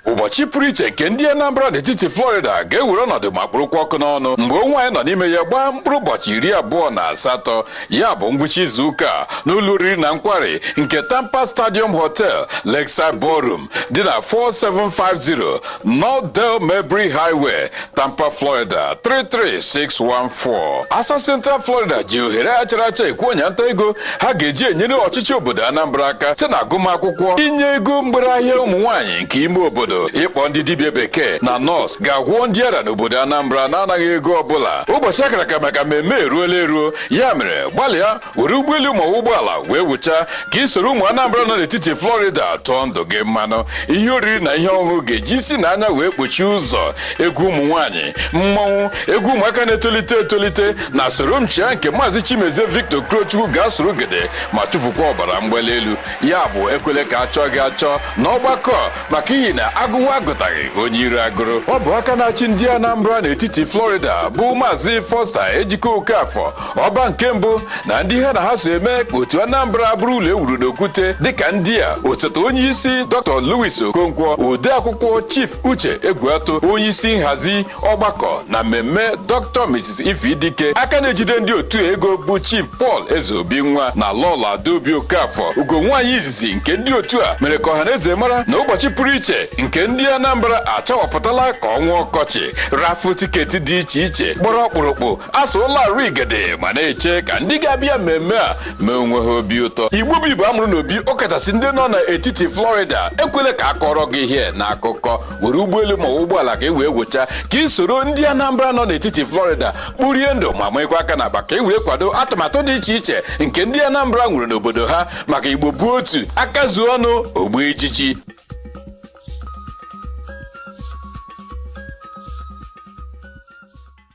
ụbọchị pụrụ iche nke ndị Anambra n'etiti Florida ga-ewere ọnọdụ ma kpụrụkwa ọkụ n'ọnụ mgbe ọnwa anyị nọ n'ime ya gbaa mkpụrụ ụbọchị iri abụọ na asatọ ya bụ ngwụcha izu ụka a n'ụlọ oriri na nkwari nke Tampa Stadium Hotel Lakeside Ballroom dị na 4750 North Dale Mabry Highway Tampa, Florida 33614 ASA Central Florida ji ohere a chara acha ekwe ọnya nta ego ha ga-eji enyere ọchịchị obodo Anambra aka site na agụmakwụkwọ inye ego mgbere ahịa ụmụ nwaanyị nke ime obodo ịkpọ ndị dibịa bekee na nọọsụ ga-agwọ ndị ara n'obodo Anambra n'anaghị ego ọbụla ụbọchị a kara aka maka mmemme eruola eruo ya mere gbalịa were ụgbọelu ma ọ bụ ụgbọala wee wụcha ka ị soro ụmụ Anambra nọ n'etiti Florida tụọ ndụ gị mmanụ ihe oriri na ihe ọṅụṅụ ga-eji isi na anya wee kpochie ụzọ egwu ụmụ nwaanyị mmọnwụ egwu ụmụaka na-etolite etolite na soro m chịa nke maazị Chimezie Victor Okorochukwu ga-asụrụ gede ma chụfukwa ọbara mgbali elu ya bụ ekwele ka a chọọ gị achọ na ọgbakọ maka ihi na a gụwa agụtaghị onye ire agụrụ ọ bụ aka na-achị ndị Anambra n'etiti Florida bụ maazị Foster Ejike Okafọ ọba nke mbụ na ndị ha na ha so eme ka otu Anambra bụrụ ụlọ e wuru n'okwute dịka ndị a osote onye isi Dr. Louis Okonkwo ode akwụkwọ Chief Uche Egwuatu onye isi nhazi ọgbakọ na mmemme Dr. Mrs. Ify Dike aka na-ejide ndị otu a ego bụ Chief Paul Ezeobinwa na Lọlọ Adaobi Okafor ugo nwaanyị izizi nke ndị otu a mere ka ọhaneze mara na ụbọchị pụrụ iche nke ndị Anambra achawapụtala ka ọnwa ọkọchị raffle ticket dị iche iche gbara ọkpụrụkpụ asụrụla arụ igede ma na-eche ka ndị ga-abịa mmemme a mee onwe ha obi ụtọ igbo bụ igbo a mụrụ n'obi ọ kachasị ndị nọ n'etiti florida ekwela ka a kọrọ gị ihe na akụkọ were ụgbọelu ma ọ bụ ụgbọala ka e wee wụcha ka ị soro ndị anambra nọ n'etiti florida kporie ndụ ma manyekwa aka na akpa ka e were kwado atụmatụ dị iche iche nke ndị anambra nwere n'obodo ha maka igbo bụ otu aka zuo ọnụ o gbuo ijiji